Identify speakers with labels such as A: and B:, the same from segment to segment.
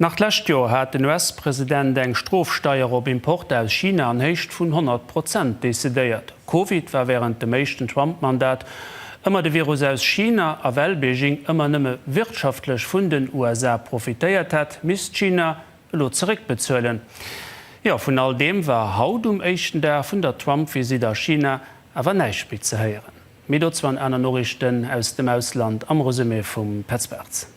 A: Nach d'lescht Joer hat den US-President eng Strofsteier op Importer aus China an Héicht vun 100 Prozent decidéiert. Covid war wärend dem éischten Trump-Mandat ëmmer de Virus aus China, a well Beijing ëmmer nëmme wirtschaftlech vun den USA profitéiert hat, misst China elo zeréckbezuelen. Jo, vun all deem war haut um éischten Dag vun der Trump-Visitt a China awer näischt méi ze héieren. Méi dozou an aner Noriichten aus dem Ausland am Resumé vum Petz Bartz.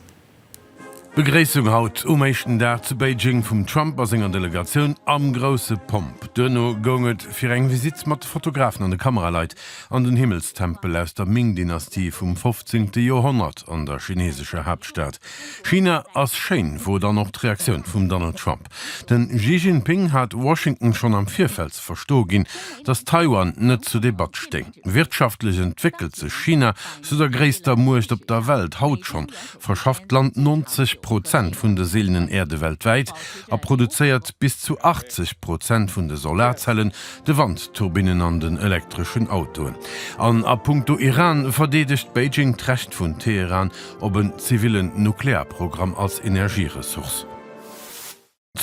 B: D'Begréissung haut um éischten Dag zu Beijing vum Trump a senger Delegatioun am grousse Pomp. Duerno goung et fir eng Visitt mat Fotografen an de Kameraleit an den Himmelstempel aus der Ming-Dynastie vum fofzéngte Joerhonnert an der chinesescher Haaptstad. China ass schéin, wor dann och d'Reaktioun vum Donald Trump. De Xi Jinping hat Washington schonn am Virfeld ze verstoe ginn, datt Taiwan net zur Debatt stéing. Wirtschaftlech entwéckelt sech China zu der gréisster Muecht op der Welt. Haut schonn verschafft d'Land 90 Prozent vun de seelenen Äerde weltwäit a produzéiert bis zu 80 Prozent vun de Solarzellen, de Wandturbinnen an den elektreschen Autoen. An a punkto Iran verdeedegt Beijing d'Recht vun Teheran op en zivillen Nuklearprogramm als Energieressource.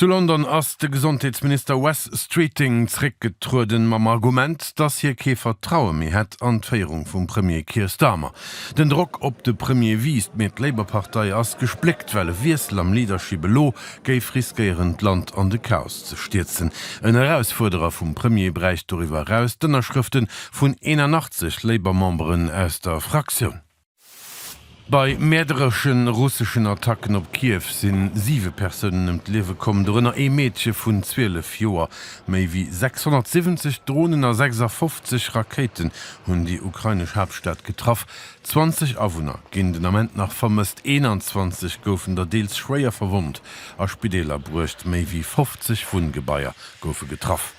B: Zu London ass de Gesondheetsminister Wes Streeting zréckgetrueden, mam Argument, dass hie kee Vertraue méi hätt an d'Féierung vum Premier Keir Starmer. Den Drock op de Premier wiisst, mee d'Labour-Partei ass gespléckt, well e Wiessel am Leadership elo géif riskéieren, d'Land an de Chaos ze stierzen. En Erausfuerderer vum Premier bräicht doriwwer eraus d'Ënnerschrëfte vun 81 Labour-Memberen aus der Fraktioun. Bei mäerderesche russeschen Attacken op Kiew si siwe Persounen ëm d'Liewe komm, dorënner ee Meedche vun 12 Joer. Méi wéi 670 Dronen a 56 Rakéiten hunn déi ukrainesch Haaptstad getraff. 20 Awunner ginn den Ament nach vermësst, 21 goufen der deels schwéier verwonnt a Spideeler bruecht. Méi wéi 50 Wunngebaier goufe getraff.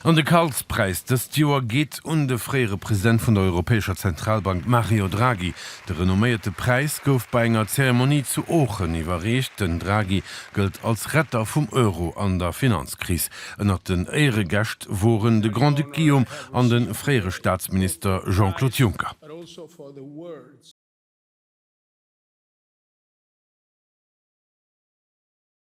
B: An de Karlspräis dëst Joer geet un de fréiere President vun der Europäescher Zentralbank Mario Draghi. De renomméierte Präis gouf bei enger Zeremonie zu Oochen iwwerreecht. Den Draghi gëllt als Retter vum Euro an der Finanzkris. Ënnert den Éieregäscht woren de Grand-Duc Guillaume an de fréiere Staatsminister Jean-Claude Juncker.